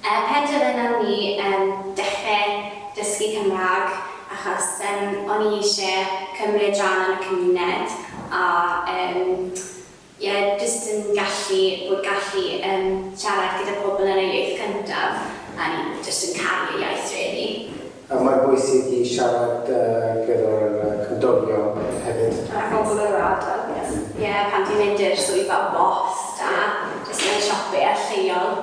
Er pendant y nawn ni yym dechre dysgu Cymrâg achos yym o'n i isie cymryd ran yn y cymuned a yym ie jyst yn gallu bod gallu yym siarad gyda pobl yn eu iaith cyntaf a o'n i jyst yn caru y iaith rili. A mae'n bwysig i siarad yy gyda'r yy cymdogion hefyd. A phobl yr ardal ie pan ti'n mynd i'r swyddfa bost a jyst yn siopie lleol.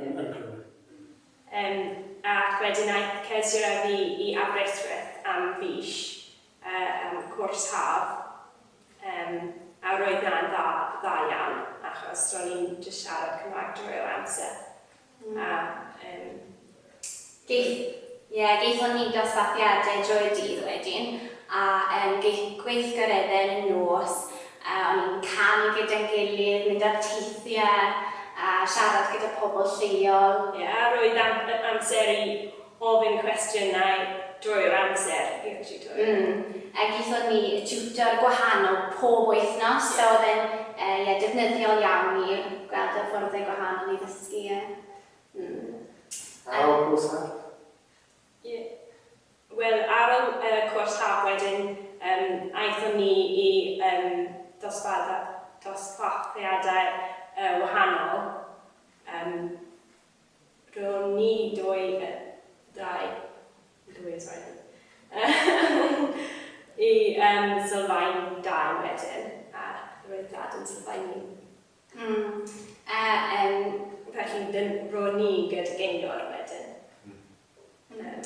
yn Eglwyn. Yym, ac wedyn aeth Kezia a fi i Aberystwyth am fis, yy, am cwrs haf, yym, a roedd 'na'n dda, dda iawn, achos ro'n i'n jyst siarad Cymraeg drwy'r amser, a, yym, Geith, ie, geithon ni dosbarthiadau drwy'r dydd wedyn, a yym geith gweithgareddau yn y nos, a o'n ni'n canu gyda'n gilydd, mynd ar teithiau, a siarad gyda pobl lleol. Ie, roedd am- yy amser i ofyn cwestiynau drwy'r amser i'r tiwtor. Mm, a geithon ni tiwtor gwahanol pob wythnos. Ie. So oedd e'n yy ie, defnyddiol iawn i gweld hyfforddiau gwahanol i ddysgu, ie. Ar ôl cwrs haf? Ie. Wel, ar ôl y cwrs haf wedyn, um, aethon ni i um, dosbarthiadau uh, wahanol. Um, ro'n ni dwy, uh, dau, dwy, sorry. I um, sylfaen dau wedyn, a roedd dad yn sylfaen un. Hm. A yym pan chi'n dyn- ro'n ni gyd gaynor wedyn. Hm. Hm.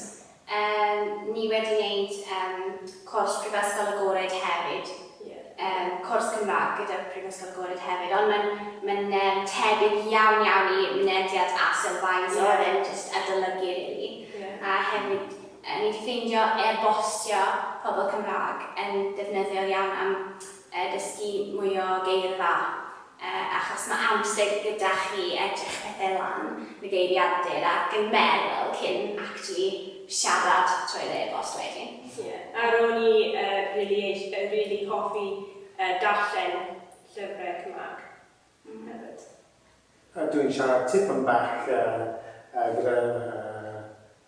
Yym ni wedi neud yym cwrs Prifysgol Agored hefyd. Ie. Yym cwrs Cymraeg gyda Prifysgol Agored hefyd ond ma'n ma'n yym tebyg iawn iawn i mynediad a sylfaen so o'dd e'n jyst adolygu rili. Ie. A hefyd yy ni 'di ffeindio e-bostio pobl Cymraeg yn ddefnyddiol iawn am a dysgu mwy o geirfa achos mae amser gyda chi edrych pethau lan yn y geiriadur ac yn meddwl cyn actually siarad trwy'r e-bost wedyn. Ie, a ro'n i rili eish- yy rili hoffi yy darllen llyfrau Cymraeg hefyd. Dwi'n siarad tipyn bach gyda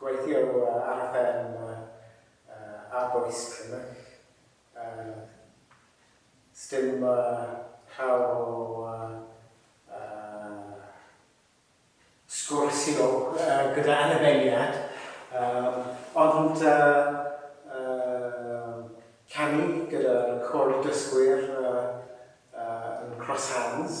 Gweithio ar y fferm ar bwys cymell. Sdim llawer o sgwrsio gyda annibyniad ond canu gyda'r côr dysgwyr yn Cross Hands.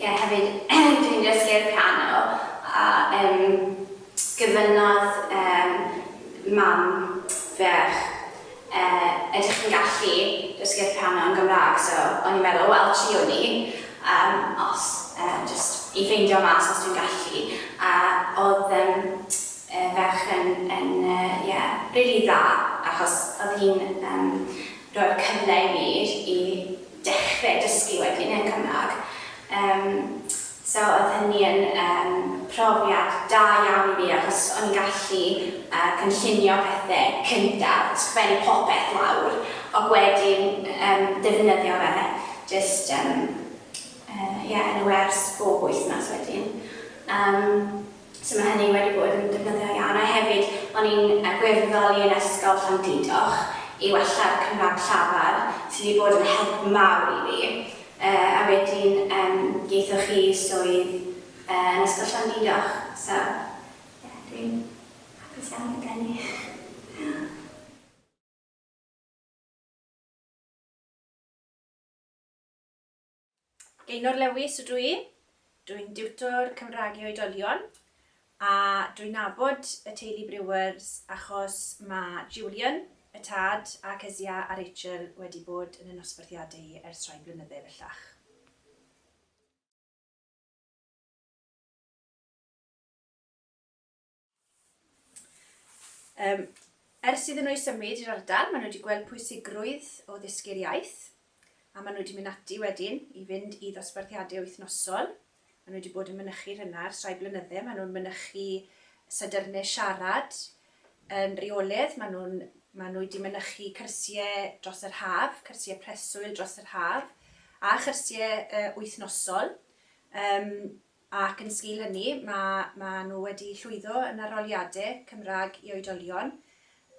Ie, hefyd dw i'n dysgu'r piano a yym gofynnodd yym mam ferch yy ydych chi'n gallu dysgu'r piano yn Gymraeg so o'n i'n meddwl wel triwn i yym os yy jyst i ffeindio mas os dwi'n gallu a oedd yym yy ferch yn yn yy ie rili dda achos oedd hi'n yym rhoi'r cyfle i fi i dechre dysgu wedyn yn Cymraeg yym so oedd hynny yn yym profiad da iawn i fi achos o'n i'n gallu yy cynllunio pethe cyntaf, sgwennu popeth lawr ac wedyn yym defnyddio fe jyst yym yy ie yn y wers bob wythnos wedyn yym. So mae hynny wedi bod yn defnyddiol iawn a hefyd o'n i'n gwirfoddoli yn Ysgol Llandudoch i wella'r Cymraeg llafar sy wedi bod yn help mawr i fi yy a wedyn yym geithoch chi swydd yy yn Ysgol Llandudoch so ie dwi'n hapus iawn gyda hynny. Diolch. Gaynor Lewis ydw i, dwi'n diwtor Cymraeg i oedolion a dwi'n nabod y teulu Brewers achos mae Julian, y tad, a Kezia a Rachel wedi bod yn y nosbarthiadau i ers rhai blynydde bellach. Um, ers iddyn nhw ei symud i'r ardal, maen nhw wedi gweld pwysigrwydd o ddysgu'r iaith, a maen nhw wedi mynd ati wedyn i fynd i ddosbarthiadau wythnosol. Maen nhw wedi bod yn mynychu rhywna ar rhai blynyddau, maen nhw'n mynychu sadyrnau siarad yn reoledd, maen nhw, maen nhw wedi mynychu cyrsiau dros yr haf, cyrsiau preswyl dros yr haf, a chyrsiau uh, wythnosol. Um, Ac yn sgil hynny, mae, maen nhw wedi llwyddo yn arholiadau Cymraeg i oedolion.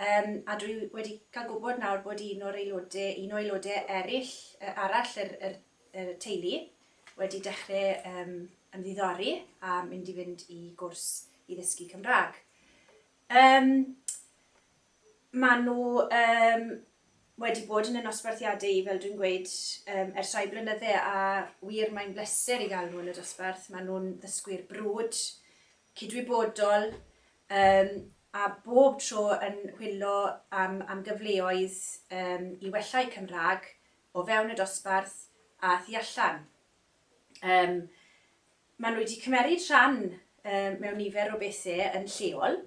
Yym, a dwi wedi cael gwybod nawr bod un o'r aelodau, un o aelodau eraill, yy, arall yr, yr, y teulu wedi dechrau yym, ymddiddori a mynd i fynd i gwrs i ddysgu Cymraeg. Yym, Maen nhw yym wedi bod yn y nosbarthiadau i, fel dwi'n gweud, yym ers rhai blynydde a wir mae'n bleser i gael nhw yn y dosbarth. Maen nhw'n ddysgwyr brwd, cydwybodol yym a bob tro yn hwyllo am am gyfleoedd yym i wella'u Cymraeg o fewn y dosbarth a thu allan. Yym maen nhw wedi cymeryd rhan yy mewn nifer o bethe yn lleol,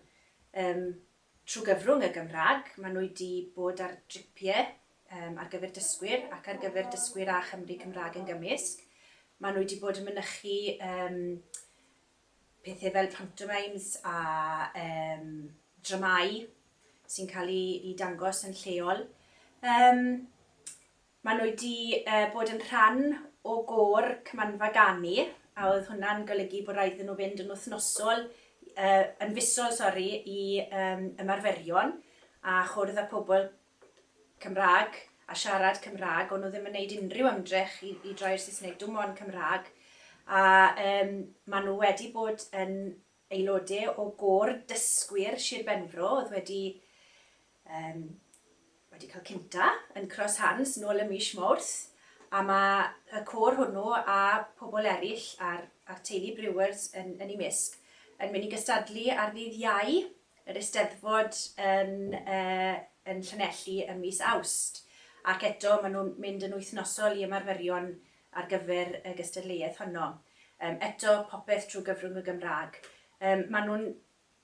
yym Trwy gyfrwng y Gymraeg, maen nhw wedi bod ar dripiau ar gyfer dysgwyr ac ar gyfer dysgwyr a Chymry Cymraeg yn gymysg. Maen nhw wedi bod yn mynychu pethau fel pantomimes a dramâu sy'n cael eu dangos yn lleol. Maen nhw wedi bod yn rhan o gôr Cymanfa Ganu a oedd hwnna'n golygu bod raid iddyn nhw fynd yn wythnosol, yn fisol sori, i ymarferion a chwrdd â pobl Cymraeg a siarad Cymraeg. O'n nhw ddim yn gwneud unrhyw ymdrech i i droi i'r Saesneg, dim ond Cymraeg. A maen nhw wedi bod yn Aelodau o Gôr Dysgwyr Sir Benfro oedd wedi yym wedi cael cynta yn Cross Hands nôl ym mis Mawrth a mae y côr hwnnw a pobl eraill a'r a'r teulu Brewers yn yn eu mysg yn mynd i gystadlu ar ddydd Iau yr Eisteddfod yn yy yn Llanelli ym mis Awst ac eto maen nhw'n mynd yn wythnosol i ymarferion ar gyfer y gystadleuaeth honno. Yym eto popeth trwy gyfrwng y Gymraeg. Yym maen nhw'n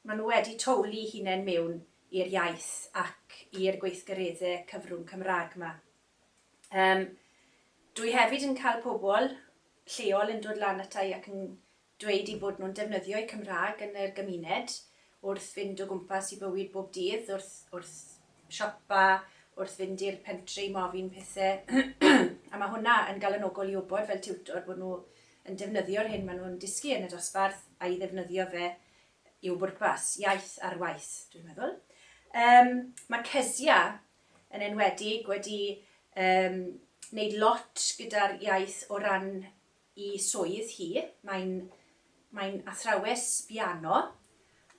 maen nhw wedi towlu hunain mewn i'r iaith ac i'r gweithgaredde cyfrwng Cymraeg ma. Yym dwi hefyd yn cael pobl lleol yn dod lan ata i ac yn dweud eu bod nhw'n defnyddio'u Cymraeg yn yr gymuned, wrth fynd o gwmpas i bywyd bob dydd, wrth wrth siopa, wrth fynd i'r pentre i mofyn pethe, a ma' hwnna yn galonogol i wbod fel tiwtor bod nhw yn defnyddio'r hyn ma' nhw'n dysgu yn y dosbarth a'i ddefnyddio fe i'w bwrpas, iaith ar waith, dwi'n meddwl. Yym, ma' Kezia yn enwedig wedi yym neud lot gyda'r iaith o ran i swydd hi, mae'n mae'n athrawes biano,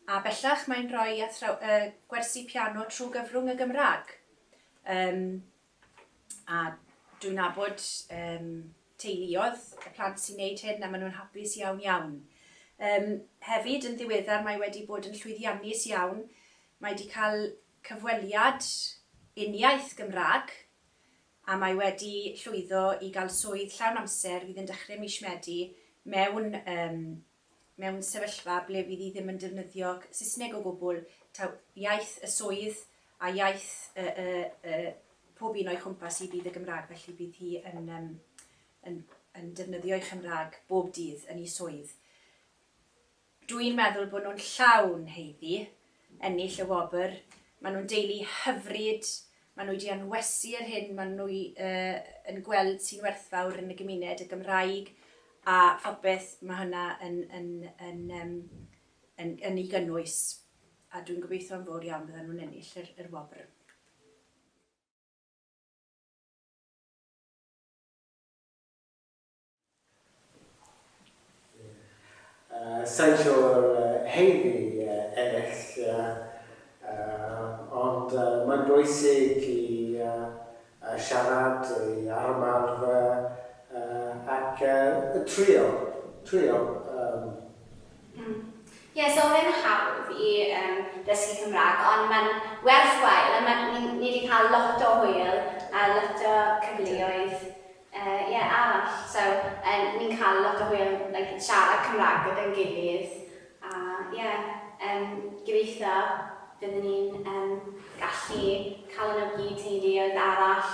a bellach mae'n rhoi athraw- yy gwersi piano trwy gyfrwng y Gymraeg. Yym a dwi'n nabod yym teuluoedd y plant sy'n neud hyn a maen nhw'n hapus iawn iawn. Yym hefyd yn ddiweddar mae wedi bod yn llwyddiannus iawn, mae wedi cael cyfweliad uniaith Gymraeg a mae wedi llwyddo i gael swydd llawn amser fydd yn dechrau mis Medi mewn yym mewn sefyllfa ble fydd hi ddim yn defnyddio Saesneg o gwbl, taw iaith y swydd a iaith y y y pob un o'i chwmpas hi fydd y Gymraeg felly bydd hi yn yym yn yn defnyddio'i Chymraeg bob dydd yn ei swydd. Dw i'n meddwl bod nhw'n llawn haeddu ennill y wobr. Maen nhw'n deulu hyfryd, maen nhw wedi anwesu yr hyn maen nhw yn gweld sy'n werthfawr yn y gymuned, y Gymraeg a phopeth mae hynna yn ei gynnwys, a dwi'n gobeithio yn fawr iawn byddan nhw'n ennill yr wobr. Sain siwr heini ennill, ond mae'n bwysig i siarad, i ymarfer ac trio, trio. Ie, so oedd e'n hawdd i ddysgu Cymraeg, ond mae'n werthwhile, a mae... ni 'di cael lot o hwyl a lot o cyfleoedd. Yy ie arall so yy ni'n cael lot o hwyl like siarad Cymraeg gyda'n gilydd a ie yym gobeithio bydden ni'n yym gallu cael y nhw gyd teuluoedd arall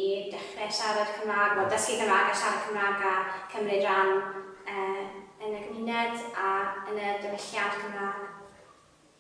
i dechrau siarad Cymraeg wel dysgu Cymraeg a siarad Cymraeg a cymryd rhan yy yn y gymuned a yn y diwylliant Cymraeg.